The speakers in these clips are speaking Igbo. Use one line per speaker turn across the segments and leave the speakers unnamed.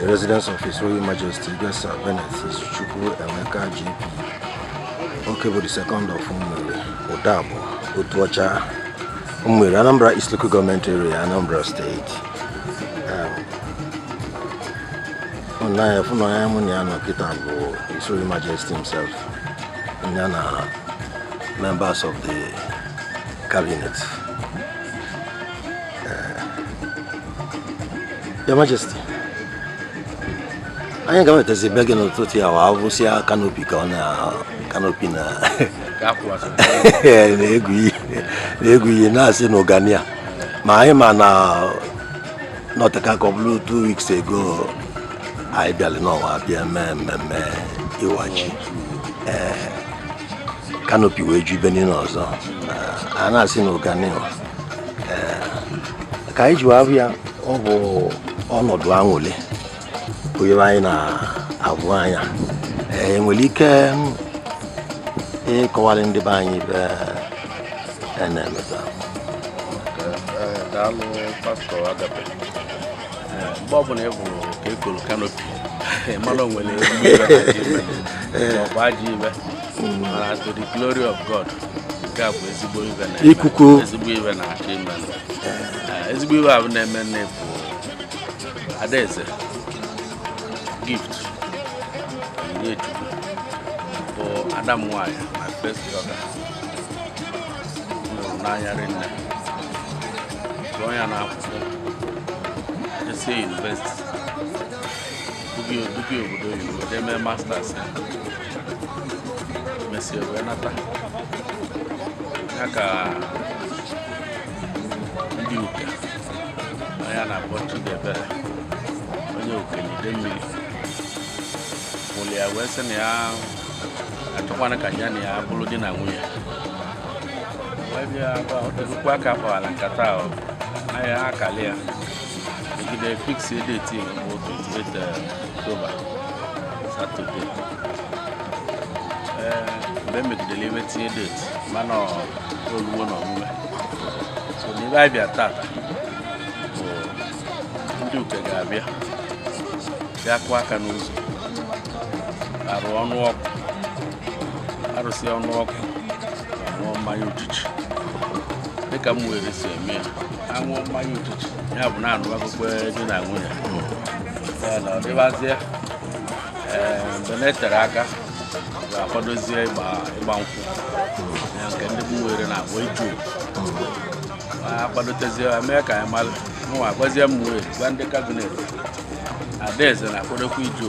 The residence of His Royal Majesty Igwe Sir Benneth Izuchukwu Emeka JP Okebo the second of Umueri Udabor Otuocha Umueri Anambra East Local Government Area Anambra State nna ya fụ na onye mụ na ya nọ kịta bụ His Royal Majesty himself ya na members of the cabinet Your Majesty, anyị ga-enwetazi be gị n'ụtụtụ a wa avụsịa kanopi ka ọ na kanopi na na-egwu ihe na-asị na ụganị ya ma anyị ma na o teka aka ọ bụrụ two weeks ago anyị bịara n'ọnwa bịa mee mmemme ịwa ji kanopi wee ju ibe niile ọzọ a na-asị na ụganị ka anyị jiwa avụ ya ọ bụ ọnọdụ aṅwụlị onye anyị na-avụ anya e nwere ike ịkọwalụ ndị be anyị ive a na-eme taa daalụ pastọ agape mgbe ọbụla ị hụrụ ka e kanopi mara o nwere ọgba ji ibe ikuku ezigbo ive na-achọ ime eh, ezigbo ive ahụ na-eme nne bụ Adaeze Gift Onyinyechukwu bụ ada m nwaanyị my first daughter m vụrụ n'anya rinne zụọ ya n'akwụkwọ esi yunivesiti Duke Duke obodo oyibo jee mee masters ya mesịa wee nata ya ka nwoke a a na-akpọ Chidiebere onye Uke Idemili vụrụ ya wee sị na ya achọkwana ka ya na ya bụrụ di na nwunye wee bịa ebe a, bịa kụọ aka kpawara nkata ahụ na ya akali ya E jide fix date ya bụ 28 October Saturday ee mgbe e megidere ive tinye date mana o luwo n'omume so n'ive anyị bịa taata bụ ndị Uke ga-abịa bịa kụọ aka n'ụzọ arụọ ọnụ akụ arụsịa ọnụ akụ aṅụọ mmanya uchichi dịka Umueri si eme ya aṅụ mmanya ụtụtụ ya bụ na-anụ akụkọ di na nwunye ya na ọ dịbazie ee mgbe na-eterọ aka ga-akwadozie ịgba ịgba nkwụ ya nke ndị bụ were na agba iju akwadotezie ya mee ka anyị mara mụnwa gwazie m wee gwa ndị kabinet adaeze na-akwadokwa iju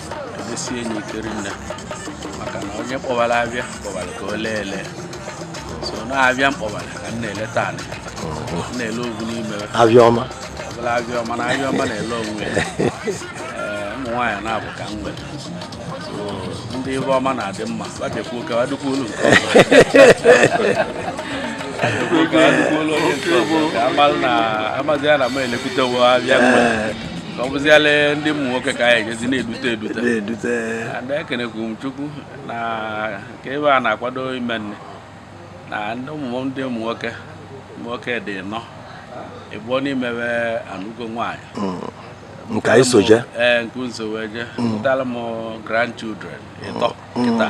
sie enyi ikeri nne maka na onye kpọvalụ avịa kpọvalụ ka o lee ele so na avịa m kpọvalụ ka m na-eleta anị na-ele ogwu n'ime avịa ọma ọ bụla avịa ọma na avịa ọma na-ele onwe ya Ee, ụmụ nwaanyị na-abụ ka m nwere So, ndị ive ọma na-adị mma ọ dịkwa oke ọ dịkwa olu nke ọzọ. Ka amalụ na amazi ya na m elekwutewo avịa mgbe ọ bụziala ndị ụmụ nwoke ka anyị ejezi na-edute edute na-edute ada ekenekwu m chukwu na nke ebe a na-akwado ime nne na ndị ụmụ ndị ụmụ nwoke ụmụ nwoke dị ịnọ ịbụọ n'ime we anụgo nwaanyị mm.
nke anyị soje ee nke nso wee
je mm. mụtalụ m grandchildren ịtọ mm. kịta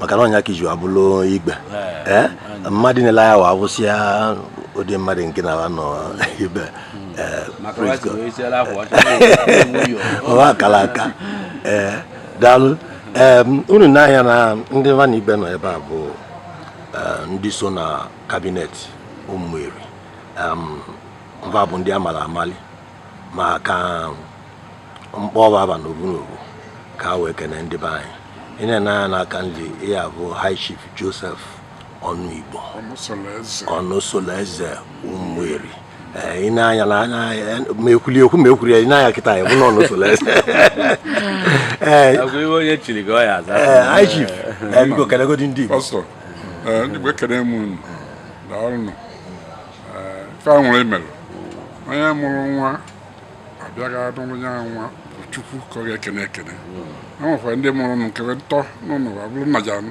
maka na ọ nya ka e ji abụlụ igbe ee mmadụ niile ya wa abụsịa ụdị mmadụ nke na nọ ibe ee praise God. ọwa akara aka ee daalụ ee unu nee anya na ndị va na ibe nọ ebe a bụ ee, ndị so na kabinet ụmụeri va bụ ndị amalụ amali ma ka m kpọva ava n'ovu n'ovu ka wee kene ndị be anyị ị na-ene anya n'aka nri ya bụ high chief joseph ọnụigbo ọnụ solo eze ụmụeri i nee anya n'anya ma ekwuli ekwu ma ekwuri ya i nee anya kịta ya bụ na ọnụ solo
eze ee high chief
biko kelegodi ndị igbo ndị igbo
ekene m unu daalụ ife nwere imere onye mụrụ nwa a bịa ga nụrụ ya nwa bụ chukwu ka ọ ga-ekene ekene hmm. e nwekwara ndị mụrụ nke ntọ n'ụlọ abụrụ nna ja-anụ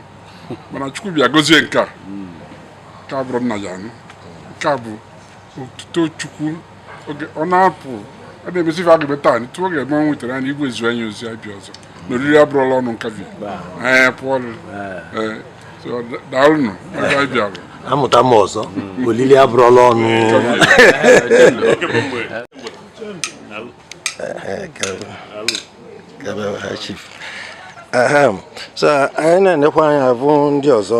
mana chukwu bịa gozie nke a hmm. nke a abụrọ nna ja-anụ nke a bụ otuto chukwu ọ na-apụ a na-emesi ife a ga-eme taa tupu oge eme o nwetara anyị igwe zie anyị ozi a bịa ọzọ na oriri abụrụla ọnụ nkabi anyị pụọ daalụnụ ebe anyị bịara amụta m ọzọ
olili abụrụla ọnụ so anyị na-enekwa anya ịvụ ndị ọzọ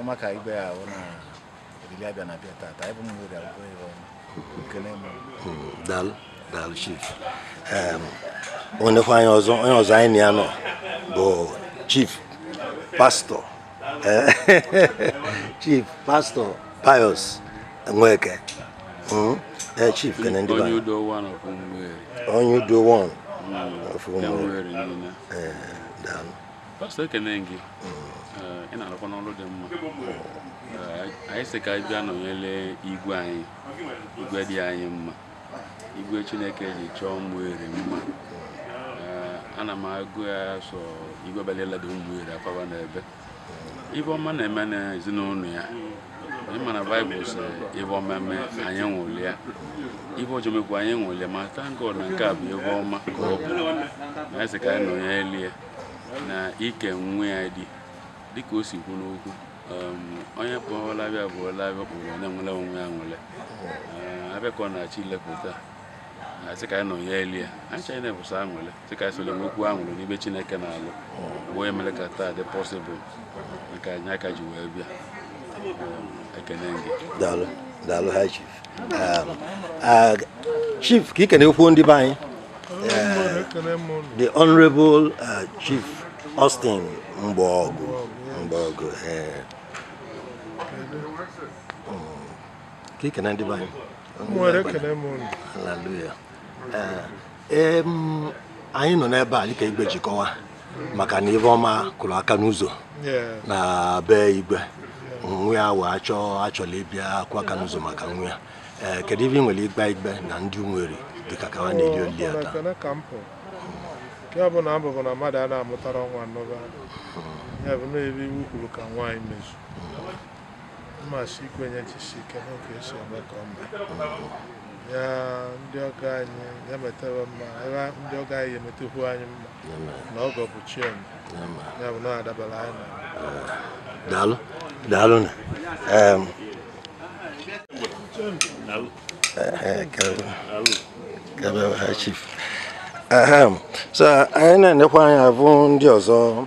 ọma ka igwe ya ahụ na olili abịa na abịa tata anyị bụ ụmụeri abụrụ ihe ọma ekene m daalụ daalụ
chief o nwekwa onye ọzọ onye ọzọ anyị na ya nọ bụ chief pastor chief pastor pius nweke ee chief kene ndị onye udo one of ụmụeri onye udo one of ụmụeri daalụ
pastor ekene gị ị na-alụkwanụ ọlụ dị mma anyị sị ka anyị bịa nọnyere igwe anyị igwe dị anyị mma igwe chineke ji chọọ ụmụeri mma ana m agụ ya sọ igwe balielada ụmụeri akwaba n'ebe ive ọma na-eme n'ezinụlọ ya anyị ma na bible sị ive ọma eme anyị ṅụrịa ive ọjọọ mekwa anyị ṅụrịa ma thank God na nke a bụ ive ọma ka ọ bụ na anyị sị ka anyị nọnyere ya na ịke nwa ya di dịka o si kwu n'okwu um, onye kpọọla abịa bụ ọla abịa kpọrọ onye nwere onwe ya nwere um, abịa ka ọ na-achọ ilepụta sị ka anyị nọnyere ya anyị chọrọ na-ebụsa aṅụrị sị ka anyị sole nwekwu aṅụrị n'ive Chineke na-alụ bụ onye mere ka taa dị possible nke anyị aka ji wee bịa um, ekene gị daalụ daalụ
high chief um, chief ka i kenekwu ndị be anyị the honorable uh, chief Austin Mgbaọgụ Mgbaọgụ eh. hmm. ka i kene ndị be anyị hallelujah eh. anyị nọ n'ebe a dịka igwe ji kọwa maka na ive ọma kụrụ aka n'ụzọ na be igwe nwa ya wee achọ achọla ịbịa akụ aka n'ụzọ maka nwa ya ee kedu ive ị nwere ịgwa igwe na ndị ụmụeri dịka ka wa na-eli oli ya taa
nke bụ na abụbụ na mmadụ a na-amụtara nwa nnọba ya bụ na ebe iwu kwuru ka nwaanyị mezu mmasị ikwenye jisi ike n'oge esi eme ka ọ mee ya ndị ọgọ anyị ya metara mma ebe ndị ọgọ anyị emetekwu anyị mma na ọgọ bụ chi onye ya bụ na ọ dabara anyị na
daalụ daalụ na em, eh, kebe- kebe ha chief Ahem. so anyị na-enekwa anya bụ ndị ọzọ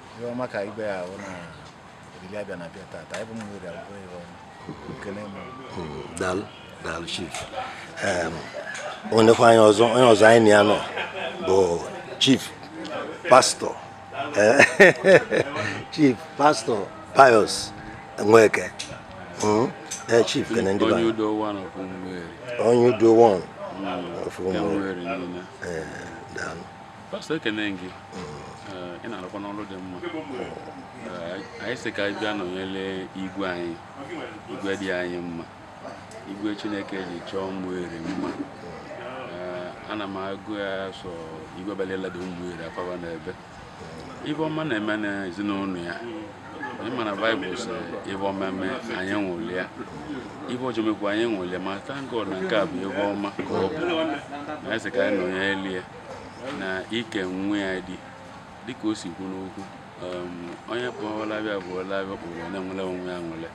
ihe ọma ka igwe ya ahụ na olili abịa na abịa tata anyị bụ ụmụeri abụrụ ihe ọma ekene m hmm,
daalụ daalụ chief o nwekwa onye ọzọ onye ọzọ anyị na ya nọ bụ chief pastor chief pastor pius nweke hmm? eh, chief kene ndị onye udo one of ụmụeri onye udo one of ụmụeri eh, daalụ
pastor ekene gị ị na-arụkwa n'ọrụ dị mma anyị sị ka anyị bịa nọnyere igwe anyị igwe dị anyị mma igwe chineke ji chọọ Umueri mma ana m agụ ya sọ igwe balelada Umueri akpaba n'ebe ive ọma na-eme n'ezinụlọ ya anyị mana Bible sị ive ọma mee anyị nwụrịa ive ọjọọ mekwa anyị nwụrịa ma thank God na nke a bụ ive ọma ka ọ bụ na anyị sị ka anyị nọnyere ya na ike nwa ya di dịka o si kwu n'okwu um, onye kpọọ ọla abịa bụ ọla abịa kpọrọ na-enwere onwe ya nwere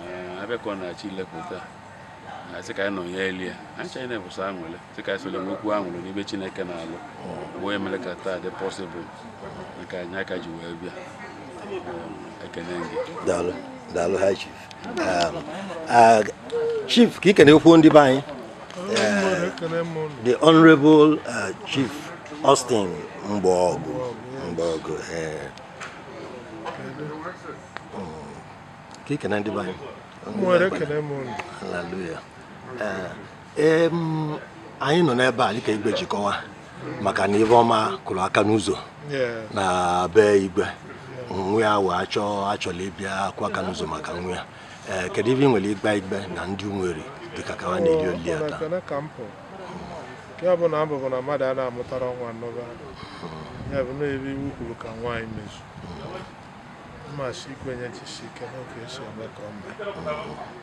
uh, abịa ka ọ na-achọ ilepụta sị ka anyị nọnyelie anyị chọrọ na-ebuso anwụlị sị ka anyị solu e nwekwu anwụlị n'ebe Chineke na-alụ bụ onye mere ka taa dị possible nke anyị aka ji wee bịa um, ekene gị daalụ daalụ
high chief um, chief ka i kenekwuo ndị be anyị the honorable uh, chief Austin Mgbaọgụ Mgbaọgụ eh. hmm. ka i kene ndị be anyị hallelujah eh, anyị nọ n'ebe a dịka igwe ji kọwaa maka na ive ọma kụrụ aka n'ụzọ na be igwe nwa ya wee achọ achọla ịbịa akụ aka n'ụzọ maka nwa ya eh, kedu ive i nwere ịgwa igwe na ndị Umueri dịka ka ha na-eli oli ya taa
nke bụ na abụbụ na mmadụ a na-amụtara nwa nnọba ya bụ na ebe iwu kwuru ka nwaanyị mezu mmasị ikwenye jisi ike n'oge esi eme ka ọ mee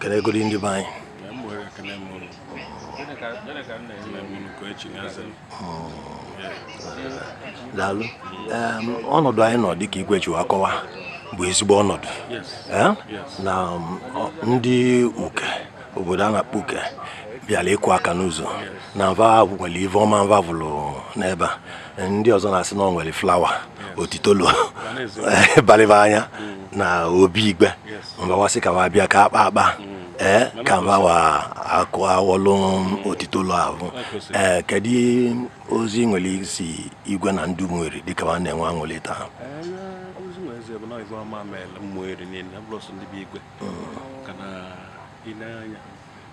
kenegodi ndị be anyị daalụ ọnọdụ anyị nọ dịka igwe ji akọwa bụ ezigbo ọnọdụ na um, ndị Uke obodo a na-akpọ Uke bịara ịkụ aka n'ụzọ na mva nwere ive ọma mva vụrụ n'ebe a ndị ọzọ na-asị na ọ nwere flower otitolo balị va anya na obi igwe mva wa sị ka va bịa ka a kpaa akpa ee eh, ka mva wa ga-awọlụ otitolo ahụ ee eh, kedu ozi i nwere izi igwe na ndị Umueri dịka va na-enwe
aṅụlị taa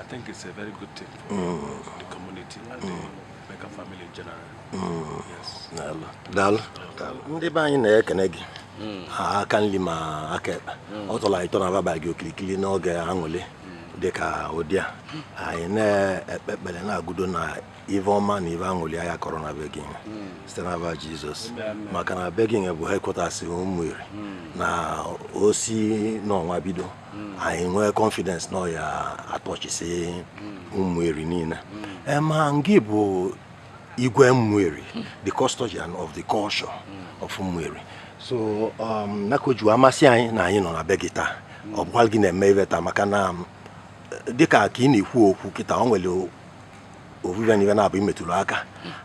I think it's a very good thing for mm. the community and mm. the Emeka family in general. Mm. Yes.
Daalụ. Daalụ. Daalụ. Ndị be anyị na-ekene gị. Mm. Aka nri ma aka ekpe. Mm. Ọ tọrọ anyị ụtọ na abịa gbaa gị okirikiri n'oge aṅụlị mm. dị ka ụdị a. Anyị na-ekpe ekpere na-agụdo na ive ọma na ive aṅụlị aya akọrọ na be gị site n'ava Jesus maka na be gị bụ headquarters Umueri na o si n'ọnwa bido hmm. anyị nwee confidence na ọ ya-atọchisi hmm. Umueri niile eh, ma ngị bụ igwe Umueri hmm. the custodian of the culture of Umueri so um, na ọ ka o ji amasị anyị na anyị nọ na be gị taa ọ bụkwa gị na-eme ive taa maka na um, dịka ka ị na-ekwu okwu kịta ọ nwere ovu ive na ive naabụ ị metụrụ aka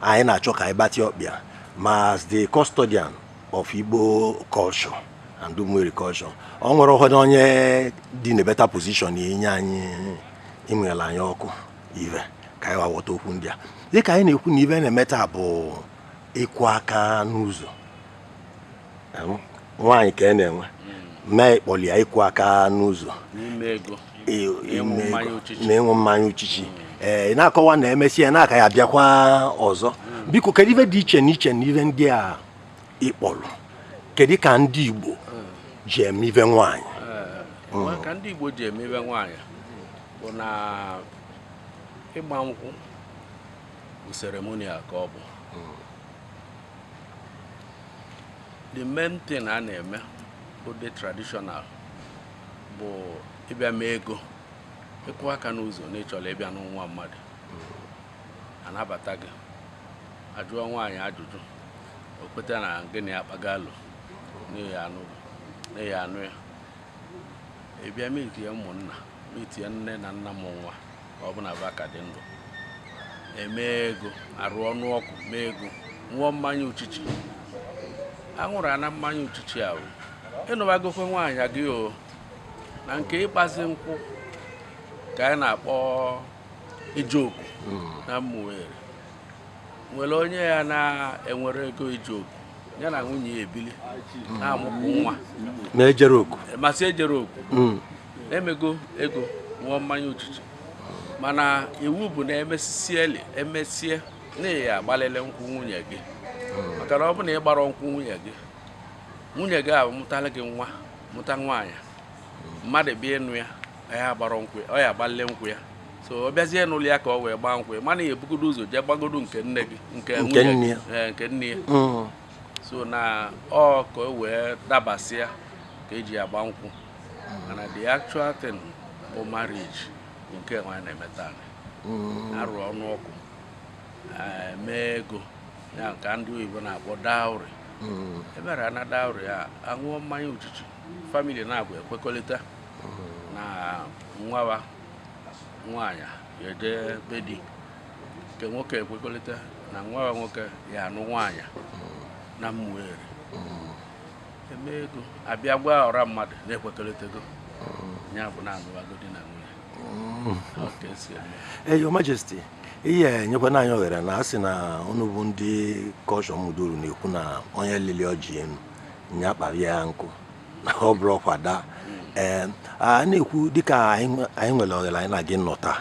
anyị na-achọ ka ị gbatị ọkpa ya ma as the custodian of Igbo culture and Umueri culture ọ nwere ụfọdụ onye dị na better position inye anyị ịmụnyela anyị ọkụ ive ka anyị ghọta okwu ndị a dịka anyị na-ekwu na ive a na-eme taa bụ ịkụ aka n'ụzọ nwaanyị ka a e na-enwe mee ịkpọli ya ịkụ aka n'ụzọ na ịṅụ mmanya uchichi ee ị na-akọwa na emesịa ya n'aka ya abịakwa ọzọ biko kedu ife dị iche na iche na ife ndị a ị kpọrọ kedu ka ndị Igbo ji eme ife nwaanyị ka
ndị Igbo ji eme ife nwaanyị bụ na ịgba nkwụ bụ ceremonial ka ọ bụ the main thing a na-eme bụ the traditional bụ ịbịa mee ego ịkụ aka n'ụzọ na ị chọrọ ịbịa nụ nwa mmadụ a nabata gị a jụọ nwaanyị ajụjụ o kweta na gị na ya kpagaalụ na ị ya-anụ ya ị bịa meetie ụmụnna meetie nne na nna mụ nwa ọ bụ na va ka dị ndụ e mee ego arụ ọnụ ọkụ mee ego ṅụọ mmanya uchichi aṅụrụ ana mmanya uchichi ahụ ị nụbagokwe nwaanyị gị o na nke ịgbazi nkwụ ka anyị na-akpọ ije oku na Umueri nwere onye ya na-enwerọ ego ije oku ya na nwunye ya ebili na-amụpụ nwa na-ejerọ oku
masị ejerọ oku
emego ego ṅụọ mmanya uchichi mana iwu bụ na emesisie emesie na ị ya-agbalịlị nkwụ nwunye gị maka na ọ bụ na ị gbarọ nkwụ nwunye gị nwunye gị amụtara gị nwa mụta nwaanyị mmadụ bịa ịnụ ya ya gbara nkwụ ọ ya-agbalịlị nkwụ ya so ọ bịazie n'ụlọ ya ka ọ wee gbaa nkwụ ya mana ị ya-ebugodo ụzọ jee gbagodo nke nne gị nke nwunye eh, nke nne ya mm. so na ọ ka o wee dabasịa ka e ji agba nkwụ mana the actual thing bụ marriage bụ nke nwa anyị na-eme taa mm. arụ ọnụ ọkụ eh, mee ego ya nke ndị oyibo na-akpọ dowry mm. emere na dowry a aṅụọ mmanya uchichi family naabụ ekwekọrịta mm. na nwawa nwaanyị ya-eje be di nke nwoke ekwekọrịta na nwawa nwoke ya-anụ nwaanyị na Umueri eme ego abịa gwa ọra mmadụ na
ekwekọrịtago mm. ya bụ na alụwago di na nwunye mm. eh, Your Majesty ị ya-enyekwanụ anyị oghere na a sị na unu bụ ndị kọshọ muduru na-ekwu na onye lili ọjị enu nya kpara ya nkụ na ọ bụrọ kwa daa ee mm. eh, a na-ekwu dịka anyị nwere oghere anyị na gị nọ taa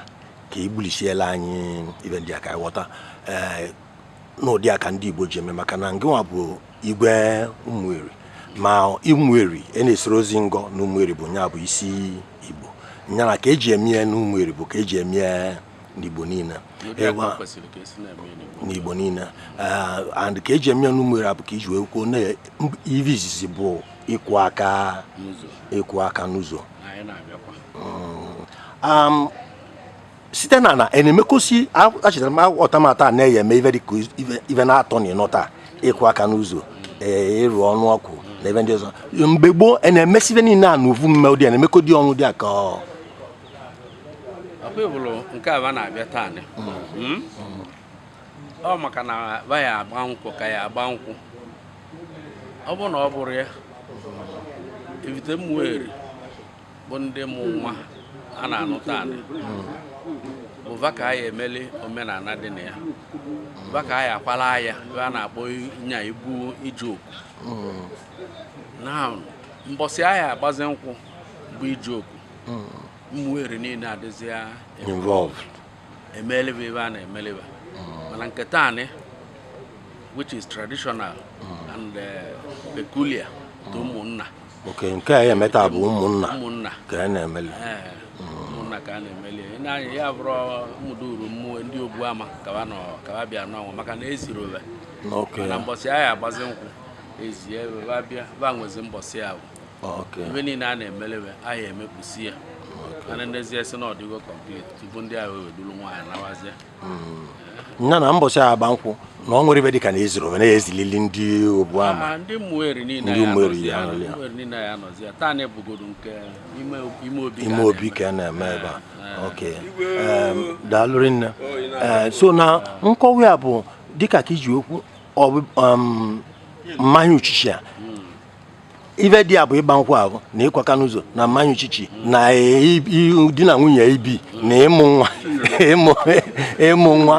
ka i gbulichiela anyị ive ndị a ka anyị ghọta ee eh, n'ụdị a ka ndị Igbo ji eme maka na ngịnwa bụ Igwe Ụmụeri ma Ụmụeri e na-esoro ozi ngọ na Ụmụeri bụ nya bụ isi Igbo nyana ka eji eme ya n'Ụmụeri bụ ka eji eme ya n'Igbo niile n'Igbo niile eh, and ka eji eme ya n'Ụmụeri abụ ka iji wee kwuo na ive izizi bụ ịkụ aka ịkụ aka n'ụzọ mm. um, site na na e na-emekọsi achịtara m ọtamata na-eye eme ive dịka ive na-atọ na ịnọ taa ịkụ aka n'ụzọ ee iru ọnụ akụ na ive ndị ọzọ mgbe gboo e na-emesi ive niile a n'ovu mme ụdị a na-emekọ dị ọnụ dịka ọ
akwụbụrụ nke va na-abịa taa nị. Mm? ọ maka na va ya-agba nkwụ ka a ya-agba nkwụ ọ bụrụ na ọ bụrụ ya Ivite Ụmụeri bụ ndị mụ nwa a na-anụ taa nị ọ va ka a ya-emeli omenana dị na ya ọ va ka a ya-akwala ya ive a na-akpọ nya ibu ije oku na mbọsị a ya-agbazi nkwụ bụ ije oku Ụmụeri niile adịzi ya
involved emeli
va ive a na-emeli va mana nke taa nị which is traditional and eh, peculiar to ụmụnna ok nke
a eme taa bụ ụmụnna ụmụnna ka a na-emeli ee
ụmụnna ka a na-emeli ị na-anya ya bụrụ mụda uru mmụọ ndị ogbu ama ka va nọ ka va bịa n'ọnwa maka na ezirọ va ok mana mbọsị a ya-agbazi nkwụ ezie va bịa va nwezi mbọsị ahụ ok ive niile a na-emeli ve a ya-emepụsi ya ma a nenezie sị na ọ dịgo complete tupu ndị ahụ ewee duru nwaanyị nawazie
hmm. ya na mbọsị agba nkwụ na ọ nwere ive dịka na ezirọ ve na-ezilili ndị ogbu ama ah, ndị
Ụmụeri niile ya anọzi ya taa nị bụgodo nke ime obi ka a
na-eme ebe a ah, ah. ok daalụ rinne oh, eh, so na nkọwa ya bụ dịka ka iji okwu mmanya uchichi a ive dị ya bụ ịgba nkwụ ahụ na ịkụ aka n'ụzọ na mmanya uchichi na di na nwunye ibi na ịmụ nwa ịmụ nwa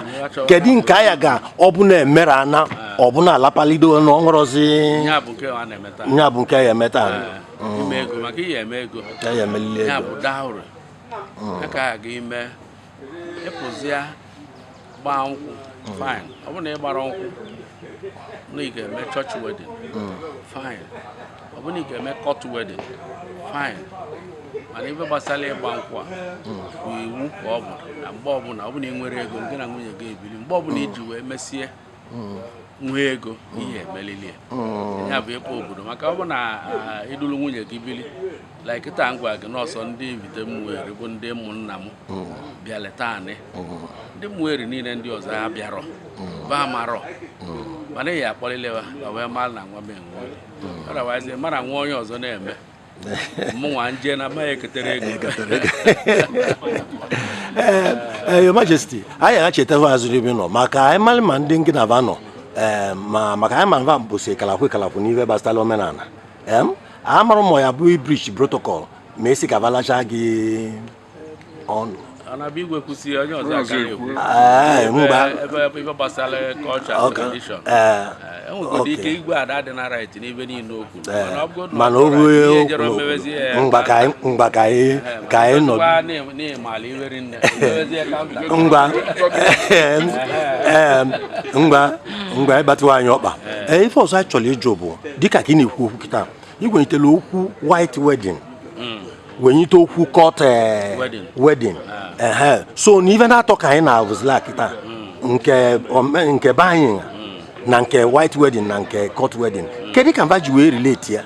kedu nke a ya-aga ọ bụ na emere ana ọ bụ na alapalido na
ọṅụrụzi ya bụ nke a ya-eme taa a ya-emelili ego gbaa nkwụ fine ọ bụ na ị gbara nkwụ na ị ga-eme church wedding fine ọ bụ na ị ga-eme court wedding fine mana ife gbasara ịgba nkwụ a bụ iwu ka ọ bụ na mgbe ọbụla ọ bụ na ị nwerọ ego gị na nwunye gị ebili mgbe ọbụla iji wee mesie nwee ego ị ya-emelili hmm. ya bụ ịkpọ obodo maka ọ bụ na ị dulu ah, nwunye gị bili like taa ngwa gị n'ọsọ ndị Ivite Umueri bụ ndị ụmụnna m hmm. bịalị taanị hmm. ndị Umueri niile ndị ọzọ ha abịarọ ba amarọ mana ị ya-akpọlili ha wee mara na nwa m enwe otherwise mara nwa onye ọzọ na-eme mụnwa nje na amaghị eketere
ego ee eh, your majesty anyị echetezirọ ebe nọ maka anyị mara ma ndị ngị na ba nọ eh, ma maka anyị ma ba bụsi kalakwu kalakwu n'ihe gbasara omenala amara m ya bụ ị breach protocol ma a sị ka ba lacha gị
ọnụ mana o
ruo mgba ka anyị
nọ
ngwa ịgbatịwa anyị ọkpa ife ọzọ anyị chọrọ ịjụ bụ dịka ka ị na-ekwu okwu kịta i wenyitela okwu white wedding wenyite okwu court eh, wedding ah. so na ife naatọ ka anyị na-avụzila kịta hmm. nke be anyị hmm. na nke white wedding na nke court wedding hmm. kedu ka ba ji wee relate ya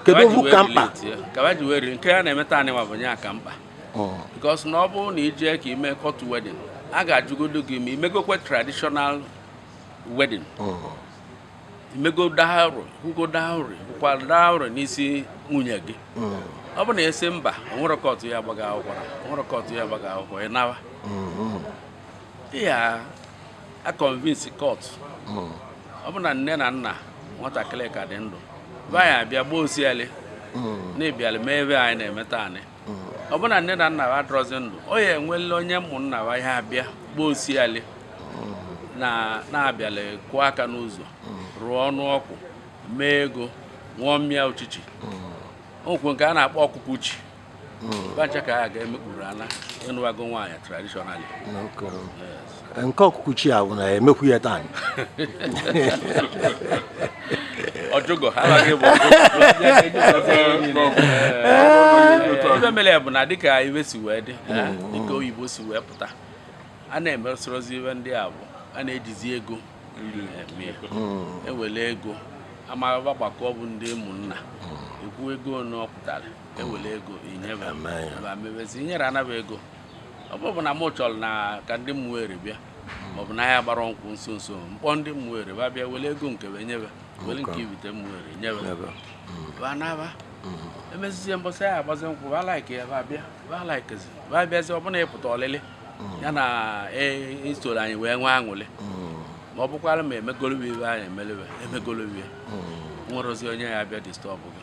kedu okwu ka
mkpa nke a na-eme taanị nwa bụ nya ka mkpa oh. because na ọ bụrụ na i jee ka i mee court wedding a ga-ajụgodo gị ma i megokwe traditional wedding oh. i mego dowry kwụgo dowry kwụkwa dowry n'isi nwunye gị mm. ọ bụ na a sị mba o nwerọ court ya-agba gị akwụkwọ o nwerọ court ya-agba gị akwụkwọ ị nawa mm-hmm. ị ya-aconvince court mm. ọ bụ na nne na nna nwatakịrị ka dị ndụ ba ya-abịa gbaa osiali mm. na ị bịala mee ife anyị na-eme taanị ọ bụ na nne na nna ha adịrọzi ndụ ọ ya enwela onye ụmụnna ha ya-abịa gbaa osiali na a bịala kụọ aka n'ụzọ rụọ ọnụ ọkụ mee ego ṅụọ mmịa uchichi o nwekwe nke a na-akpọ ọkụkụ uchi ba ncha ka a ga-emekpuru ana ị nụwago nwaanyị traditionally
nke ọkụkụ uchi a bụ a na-emekwu ya
taa ọ jụgo ife mere ya bụ na dịka ife si wee dị mm. dịka oyibo si wee pụta a na-emesorozi ife ndị a bụ a na-ejizi ego ewere mm. ego ma ba gbakọ bụ ndị ụmụnna mm. ekwu ego na ọ pụtara ewere ego inyebe mebezi inyere anaba ego ọ bụrụ na mụ chọrọ na ka ndị Ụmụeri bịa maọbụ na ya gbara nkwụ nso nso m kpọọ ndị Ụmụeri ba bịa were ego nke wee nyebe were nke ibite Ụmụeri nyebe ba naba emezizie mbọsị a ya-agbazi nkwụ ba like ya ba bịa ba likezi ba bịazi ọ bụ na ịpụta ọlịlị ya na isoro anyị wee nwee aṅụlị ma ọ bụkwara ma emegolowe ibe anyị emelebe emegolowe nwerozi onye ya-abịa disturb gị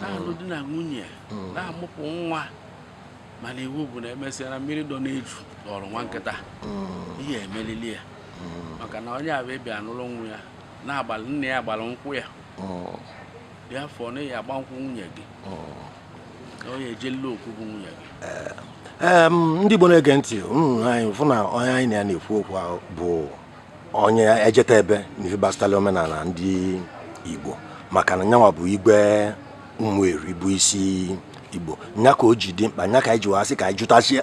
na-alụ di na nwunye hmm. na-amụpụ nwa mana iwu bụ na emesịa na mmiri dọ n'eju dọrọ nwa nkịta hmm. ihe emelili ya hmm. maka na onye a bịa anụrụ nwa ya na-agbalị nne ya gbara nkwụ ya dị afọ na ya agba nkwụ nwunye gị na onye ejela okwu bụ nwunye gị eh, ndị Igbo na-ege ntị
unu afụ na onye anyị na ya na-ekwu okwu bụ onye ejeta ebe n'ive gbasatara omenala ndị Igbo maka na nyanwa bụ igwe Ụmụeri bụ isi Igbo nya ka o ji dị mkpa nya ka anyị ji wee sị ka anyị jụtazi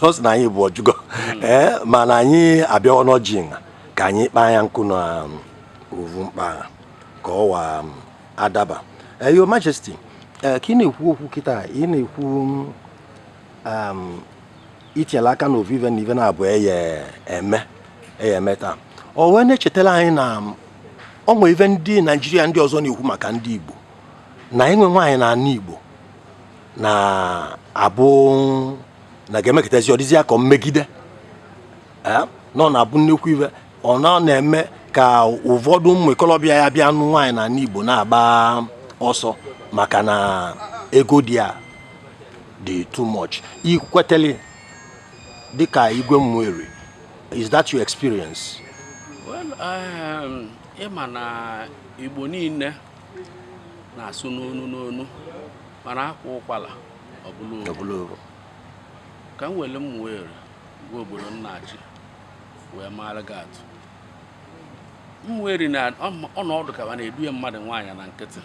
ọ sị na anyị bụ ọjụgo hmm. ee eh, mana anyị abịawa n'ọjị nha ka anyị kpaa ya nkụ na um, ovu mkpa ka ọ wa um, adaba eh, Your Majesty eh, ka ị na-ekwu okwu kịta ị na-ekwu um, itinyela aka n'ovu ive na ive na-abụ eye eme eye eme taa o wee na-echetara anyị na o nwere ive ndị naijiria ndị ọzọ na-ekwu maka ndị igbo na ịnụ nwaanyị na ana igbo na-abụ na ga-emekọtazi ọ dịzịa ka mmegide na ọ na-abụ nnekwu ive ọ na na-eme ka ụfọdụ ụmụ ikolobịa ya-abịa nụ nwaanyị na ana igbo na-agba ọsọ maka na ego dị a dị too much ikwetele dịka igwe Ụmụeri is that your experience well
um, ịma na igbo niile na-asụ n'onu n'onu mana a kwaa ụkwala ọ bụlụ ovu ka m were Ụmụeri gwa obodo m na-achị wee maara gị atụ Ụmụeri na ọ na-adị ka a na-eduye mmadụ nwaanyị na nkịtị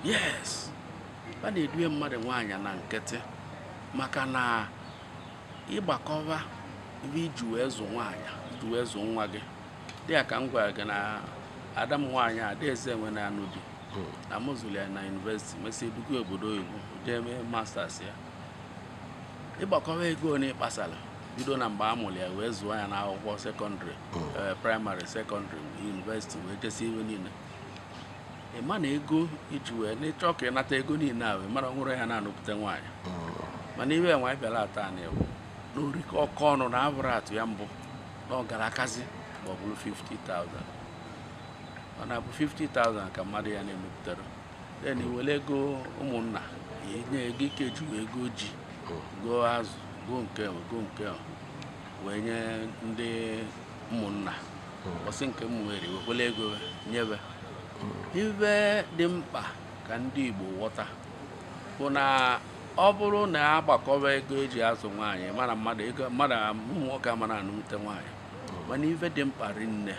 yes a na-eduye mmadụ nwaanyị na nkịtị maka na ịgbakọba ive iji wee zụ nwaanyị iji wee zụ nwa gị dịka m gwara gị na ada m nwaanyị adaeze enwe na-anụ di hmm. na m zụrụ ya na yunivesiti mesịa eduga obodo oyibo jee mee masters ya ịgbakọba ego na ịkpasara bido na mgbe a mụrụ ya wee zụọ ya n'akwụkwọ sekọndịrị hmm. eh, praịmarị sekọndịrị yunivesiti wee jesi ive niile ị ma na ego iji wee na ị chọọ ka ị nata ego niile a wee mara nwụrụ ya na-anụpụta nwaanyị mana ive nwaanyị bịara ata ana ewu na orike ọkọ ọnụ na abụrụ atụ ya mbụ na ọ gara akazi ma ọ bụrụ 50,000 ọ na-abụ 50,000 ka mmadụ ya na-emepụtara then i were ego ụmụnna ya enye ego ike ji wee ego ji goo azụ goo nke ahụ, goo nke ahụ wee nye ndị ụmụnna ọsị nke Umueri wekwela ego nyebe ive dị mkpa ka ndị Igbo ghọta bụ na ọ bụrụ na a gbakọba ego e ji azụ nwaanyị mara mmadụ ego mmadụ ụmụ nwoke ama na-anụnwute nwaanyị mana ive dị mkpa rinne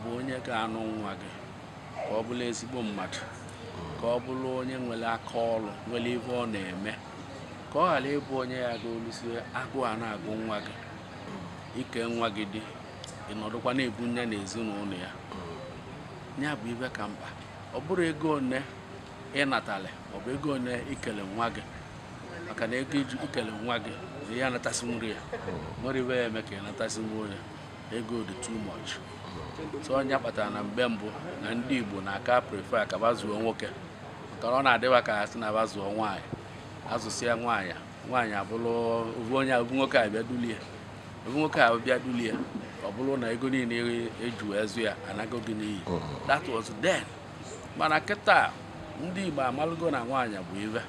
bụ onye ga-anụ nwa gị ka ọ bụrụ ezigbo mmadụ ka ọ bụrụ onye nwere aka ọrụ nwere ive ọ na-eme ka ọ ghara ịbụ onye ya ga-olusi agụụ a na-agụ nwa gị i kee nwa gị di ị nọdụkwa na-ebu nya na ezinụlọ ya ya bụ ive ka mkpa ọ bụrọ ego one ị natalụ ọ bụ ego one i kelụ nwa gị maka na ego iji ikele nwa gị na ị ya anatasịnwurọ ya nwerọ ive ị ya-eme ka ị natasịnwu ya ego dị too much so ọ nya kpatara na mgbe mbụ na ndị Igbo na-aka prefer ka ba zụọ nwoke maka na ọ na-adị ba ka ha sị na ba zụọ nwaanyị a zụsịa nwaanyị nwaanyị abụrụ ovu onye ovu nwoke abịa dulie ovu nwoke abịa dulie ọ bụrụ na ego niile e ji azụ ya anago gị n'iyi that was then mana kịta ndị Igbo amalụgo na nwaanyị bụ ive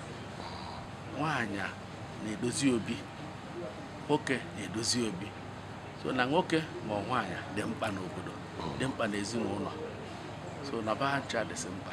nwaanyị na-edozi obi nwoke na-edozi obi so na nwoke ma nwaanyị dị mkpa n'obodo dị mkpa n'ezinụlọ so na ba ncha dịsị mkpa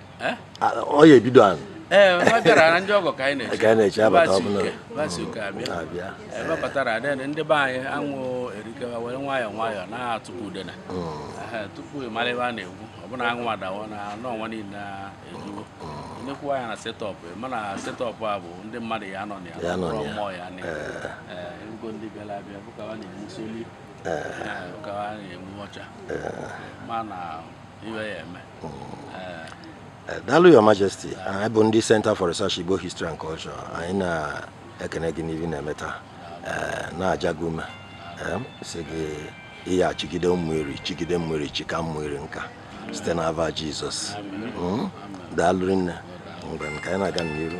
eh? ọ ya ebido ahụ ee eh, ọ bịara
na ndị ọgọ ka anyị na-eche
abata ọbụla
abịa eh, babatara adịghị ndị be anyị anwụ erikewa were nwayọọ nwayọọ na-atụpụ udena hmm. tupu ị mara ive a na-ekwu ọbụna anwụ adawa na anọ ọnwa niile na-ejuwo nnekwu anya na setup mana setup a bụ ndị mmadụ ya nọ na ya nọrọ mmụọ ya na ego ndị bịara abịa bụkawa na-enwu soli ụkawa na-enwu ọcha mana ive ya-eme
Eh, daalụ your majesty anyị bụ ndị center for research igbo history and culture anyị na-ekene gị n'ive ị na-eme taa eh, na-aja gị ume eh, sị gị ị ya-achịgide Umueri chịgide Umueri chịka Umueri nka site n'ava jizọs hmm? daalụ rinne mgbe nke anyị na-aga n'iru